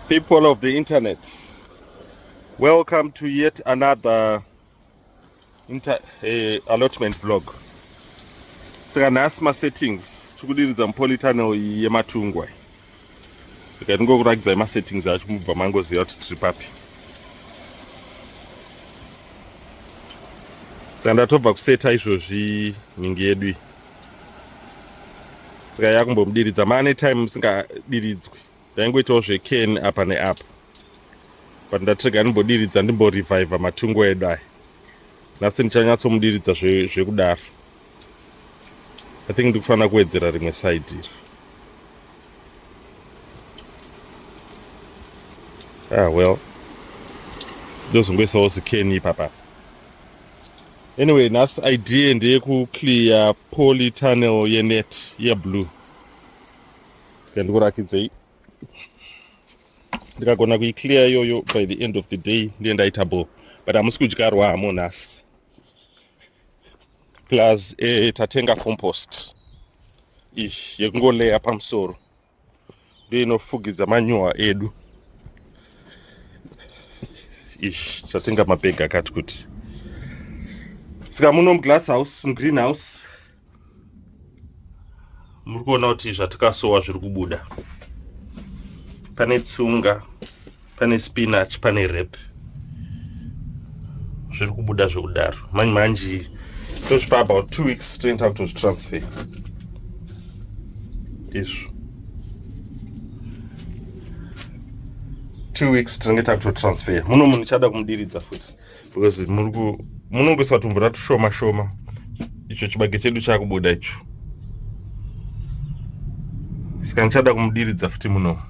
People of the internet, welcome to yet another inter, uh, allotment vlog. Saka nhasi masettings tikudiridza mupolitano yematungwa saka ndingokuratidzai masettings acho mubva mangoziva kuti tiri papi saka ndatobva kuseta izvozvi nhingi yedu iyi saka yakumbomudiridza mane time musingadiridzwi ndaingoitawo zveken apa neapa but ndatirega ndimbodiridza ndimborevivha matungo edu aya nhasi ndichanyatsomudiridza zvekudaro i think ndikufanira kuwedzera rimwe side iri ah well ndozongoisawo zikeni ipapapa Anyway, nhasi idea ndeyekuclear poly tunnel yenet yeblue. Ndikurakidzei. Ndikagona kuiclear iyoyo by the end of the day ndiye ndaita ball. But hamusi kudyarwa hamo nhasi. Plus eh, tatenga compost. Ish, yekungoleya pamusoro. ndiyo inofugidza manyuwa edu ish chatenga mabhegi akati kuti saka muno muglass house mugreen house muri kuona kuti zvatikasowa zviri kubuda pane tsunga pane spinach pane rep zviri kubuda zvekudaro manje manje tozvipa about two weeks toenda kutozvitransfer izvo two weeks tinenge takutotransfer muno munhu chada kumudiridza futi because muri ku munongoisa tumvura tushoma shoma icho chibage chedu chakubuda icho saka ndichada kumudiridza futi muno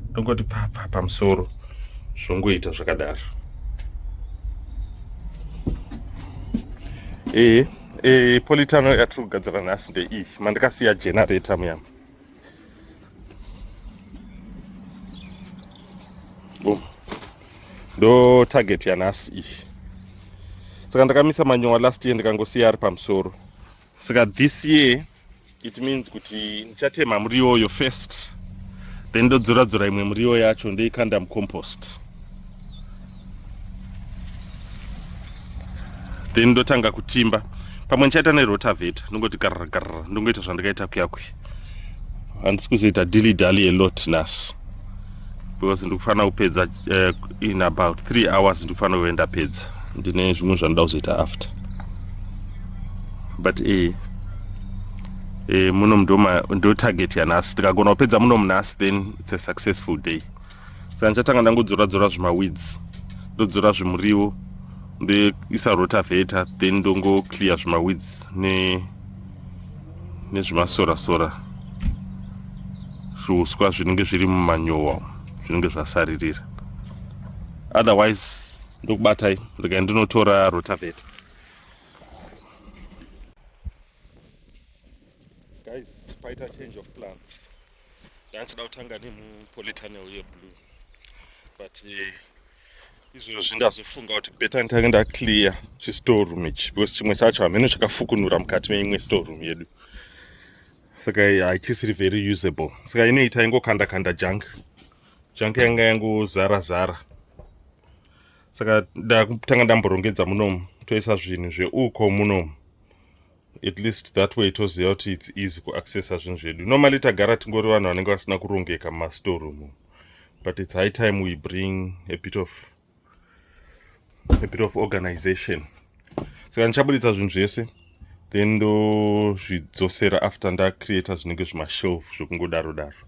ndongoti papa pamusoro zvongoita zvakadaro ee ee politano yatiri kugadzira nhasi ndeiyi mandikasiya generator muyama Boom. Ndo target yanhasi iyi. Saka ndakamisa manyowa last year ndikangosiya ari pamusoro. Saka this year it means kuti ndichatema muriwo uyo first then ndodzora dzora imwe muriwo yacho ndoikanda mucompost. then ndotanga kutimba pamwe ndichaita nerotaveta ndongoti garragarra ndongoita zvandikaita kuyakwe handisi kuzoita dilly dally alot nhasi because ndikufanira kupedza uh, in about three hours ndikufanira kuve ndapedza ndine zvimwe zvanoda kuzoita after but e e muno mndotarget yanhasi tikagona kupedza muno munhasi then its a successful day saka ndichatanga ndangodzora dzora zvimaweeds ndodzora zvimuriwo ndoisa rotaveta then ndongoclear zvimaweeds ne nezvimasora sora zviuswa zvinenge zviri mumanyowa zvinenge zvasaririra otherwise ndokubatai regai ndinotora rotaveta guys paita change of plans ndanga ndichida kutanga nemupolitana uye blue but eh, izvozvi ndazofunga kuti beta nditange ndaclear chistore room ichi because chimwe chacho hameno chakafukunura mukati meimwe store room yedu saka eh, haichisiri very usable saka inoita ingokanda kanda junk junk yanga yangozara zara saka ndakutanga ndamborongedza munomu toisa zvinhu zveuko munomu at least that way toziva kuti its easy kuaccessa zvinhu zvedu normally tagara tingori vanhu vanenge vasina kurongeka mumastoreroom but its high time we bring a bit of a bit of organization saka ndichaburitsa zvinhu zvese then ndozvidzosera after ndacreata zvinenge zvimashelf zvekungodaro daro, daro.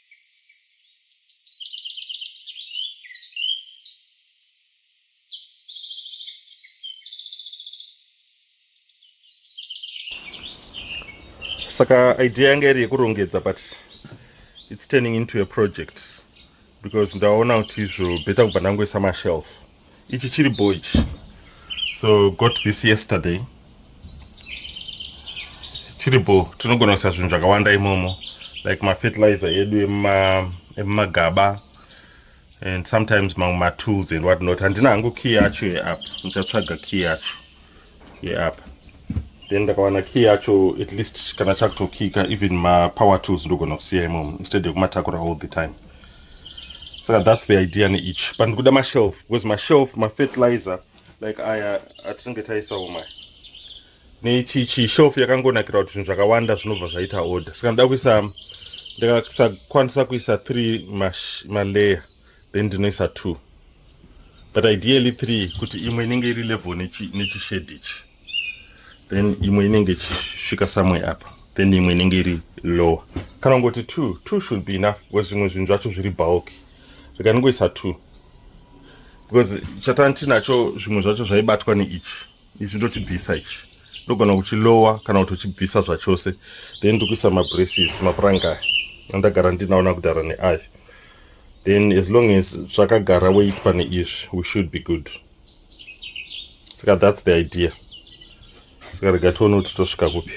saka idea yanga iri yekurongedza but its turning into a project because ndaona kuti izvo better kubva ndangoisa mashelf ichi chiri bho ichi so got this yesterday chiri bho tinogona kuisa zvinhu zvakawanda imomo like mafertilizer edu emumagaba ema and sometimes mamwe matools and what not handina hangu key yacho yeapp ndichatsvaga key yacho yeapa then ndakawana key yacho at least kana chakutokika even mapower tools ndogona kusiya imomo instead yekumatakura all the time saka that's the idea neeach but ndikuda mashelf because mashelf mafertilizer like aya atinenge taisawo maya neichi chishelf yakangonakira kuti zvinhu zvakawanda zvinobva zvaita order saka ndoda kuisa ndakasakwanisa kuisa three malayer then ndinoisa two but ideally three kuti imwe inenge iri level nechishedi ichi then imwe inenge ichisvika samwe apa then imwe inenge iri lower kana kungoti two two should be enough because zvimwe zvinhu zvacho zviri bulky zvikanongoisa two because chatani tinacho zvimwe zvacho zvaibatwa neichi ichi ndochibvisa ichi ndogona kuchilowa kana kuti uchibvisa zvachose then ndikuisa mabraces mapuranga aya andagara ndinaona kudhara neaya then as long as zvakagara weit pane izvi we should be good saka that's the idea saka rega tione kuti tosvika kupi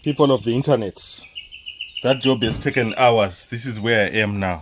people of the internet that job has taken hours this is where i am now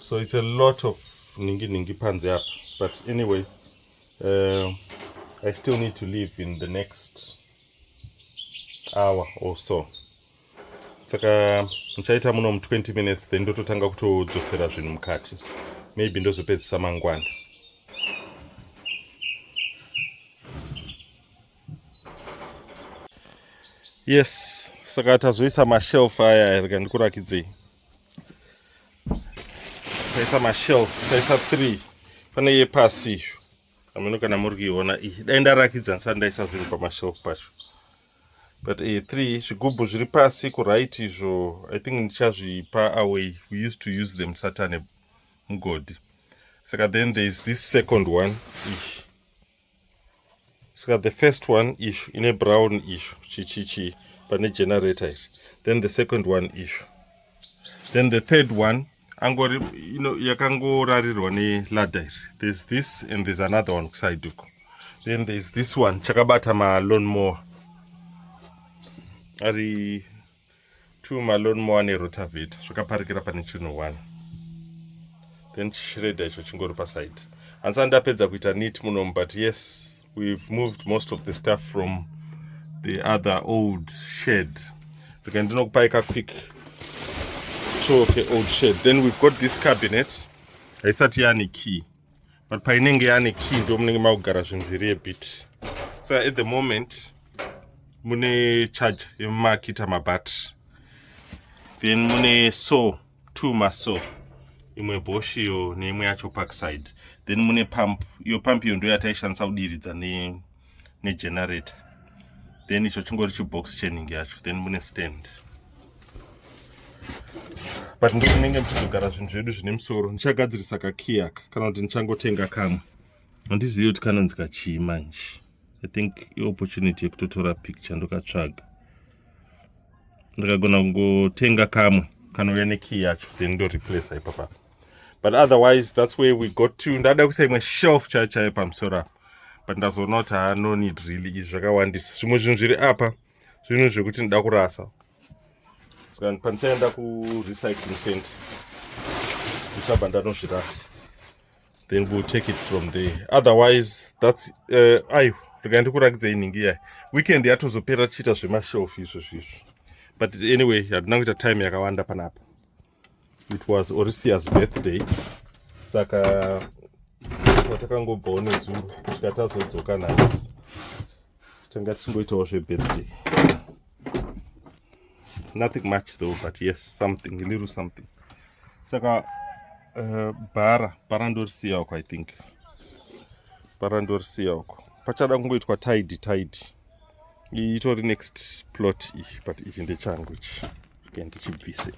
so it's a lot of ningi ningi panze apa but anyway uh, i still need to leave in the next hour or so saka muchaita muno mu 20 minutes then ndototanga kutodzosera zvinhu mukati maybe ndozopedzisa mangwana yes saka tazoisa mashelf aya rega ndikurakidzei taisa mashelf taisa three pane yepasi iyo ameno kana muri kuiona iyi dai ndarakidza ndisati ndaisa zvinhu pamashelf pacho but e three zvigubhu zviri pasi kuright izvo i think ndichazvipa away we used to use them satane mugodhi saka then there is this second one iyi saka the first one ishu ine brown ishu chichichi pane generator izvi then the second one ishu then the third one angori you know, yakangorarirwa nelada iri there's this and there's another one kuside uko then there's this one chakabata malonmower ari two malone moa nerotaveta zvakaparikira pane chino one then chishreda icho chingori paside hansa ndapedza kuita neat munomu but yes we've moved most of the stuff from the other old shed rika ndinokupai ka quick tour ke old shed then we've got this cabinet haisati yane key but painenge yane key ndo munenge makugara zvinhu zviri ebit so at the moment mune charge yemakita mabattery then mune so two maso imwe bosh iyo neimwe yacho parkside then mune pump iyo pump iyo ndo yataishandisa kudiridza ne negenerator then icho chingori chibox chening yacho then mune stand but ndokunenge muchizogara zvinhu zvedu zvine musoro ndichagadzirisa kakiyaka kana kuti ndichangotenga kamwe handizivi kuti kanonzi kachii manje i think iopportunity yekutotora picture ndokatsvaga ndakagona kungotenga kamwe kanouya nekiyi yacho then ndoreplace ipapapa but otherwise that's where we got to ndada kuisa imwe shelf chai chai pamusoro apa but ndazoona kuti haa no need really izvi zvakawandisa zvimwe zvinhu zviri apa zvinhu zvekuti ndida kurasa saka pandichaenda kurecycling center ndichabva ndanozvirasa then we'll take it from there otherwise that's uh, eh, aiwa rega ndikurakidza inhingi iyayi weekend yatozopera tichiita zvemashelf izvo zvizvo but anyway hatina kuita time yakawanda panapa it was orisia's birthday saka watakangobvawo nezuro kusvika tazodzoka nhasi tanga tichingoitawo zvebirthday nothing much though but yes something little something saka uh, bhara bhara ndorisiya uko i think bhara ndorisiya uko pachada kungoitwa tide tide itori next plot iyi but ichi ndechangu ichi ken tichibvise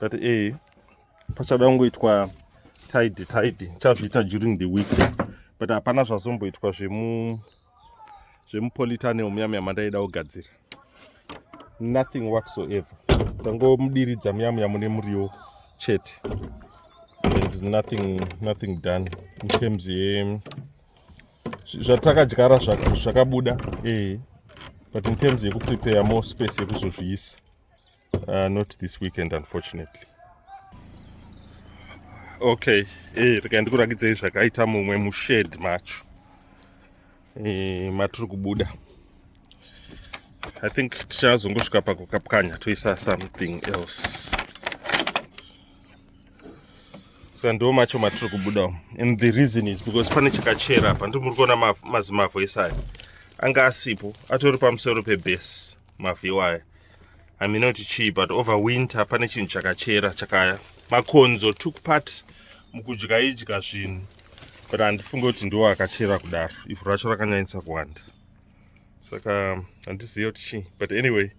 but e eh, pachada kungoitwa tide tide chazviita during the week but hapana zvazomboitwa zvemu zvemupolitane omuyamuyama ndaida kugadzira nothing whatsoever tangomudiridza muyamuya mune muriwo chete and nothing nothing done in terms ye zvatakadyara zvakabuda ee but in terms yekuprepare more space yekuzozviisa Uh, not this weekend unfortunately. Okay, eh, rega ndikurakidzei zvakaita mumwe mushed macho eh, matiri kubuda I think tichazongosvika pakukapwanya toisa something else saka ndo macho matiri kubuda and the reason is because pane chakachera apa ndimuri kuona mazimavhu ese aya anga asipo atori pamusoro pebase maview aya i mean not chii but over winter pane chinhu chakachera chakaya makonzo took part mukudya idya zvinhu but handifunge kuti ndiwo akachera kudaro ivhu racho rakanyanyisa kuwanda saka handiziva kuti chii but anyway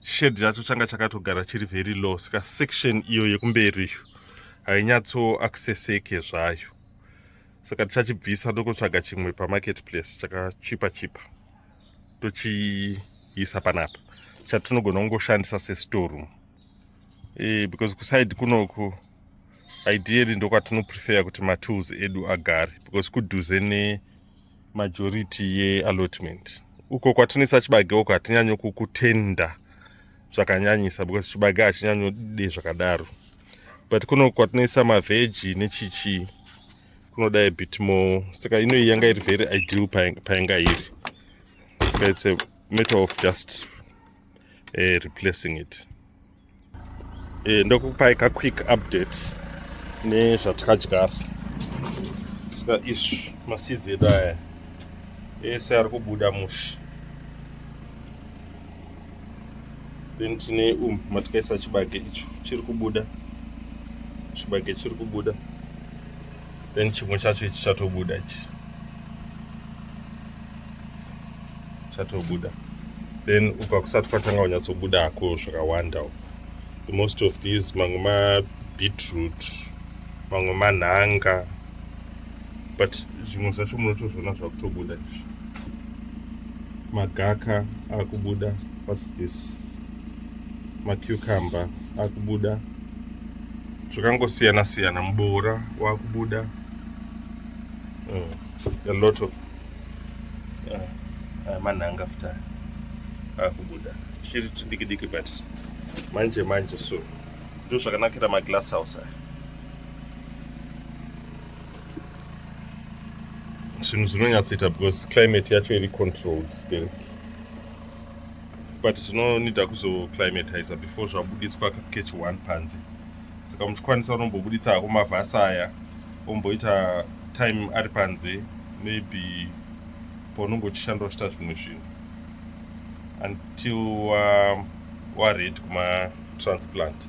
shade yacho changa chakatogara chiri very low saka section iyo yekumberi iyo hainyatso accesseke zvayo saka tichachibvisa ndokutsvaga chimwe pamarket place chakachipa chipa, chipa. tochiisa panapa chatinogona kungoshandisa sestoreroom e, because kuside kunoku ideally ndokwatinoprefer kuti matools edu agare because kudhuze nemajority yeallotment uko kwatinoisa chibage uko hatinyanyo kukutenda zvakanyanyisa because chibage hachinyanyode zvakadaro but kuno kwatinoisa mavheji nechichii kunoda a bit more saka ino iyi yanga iri very ideal payanga iri saka it's a matter of just uh, replacing it uh, eh, ndokupai ka quick update nezvatakadyara saka izvi masidzi edu aya ese ari kubuda musha then tine um matikaisa chibage icho chiri kubuda chibage chiri kubuda then chimwe chacho ichi chatobuda ichi chatobuda then uka kusati kwatanga kunyatsobuda hako zvakawanda uko the most of these mamwe mabeetroot mamwe manhanga but zvimwe zvacho munotozviona zvakutobuda izvi magaka akubuda whats this macucumber akubuda zvakangosiyana siyana muboora wakubuda uh, a lot of uh, uh, manhanga futa akubuda chiri tudiki diki but manje manje so ndozvakanakira maglass house aya zvinhu zvinonyatsoita because climate yacho iri controlled still but zvinonida kuzoclimatiza before zvabuditswa catch one panze saka muchikwanisa unombobuditsa hako mavhasi aya omboita time ari panze maybe paunenge uchishanda uchita zvimwe zvinhu until wared kuma transplant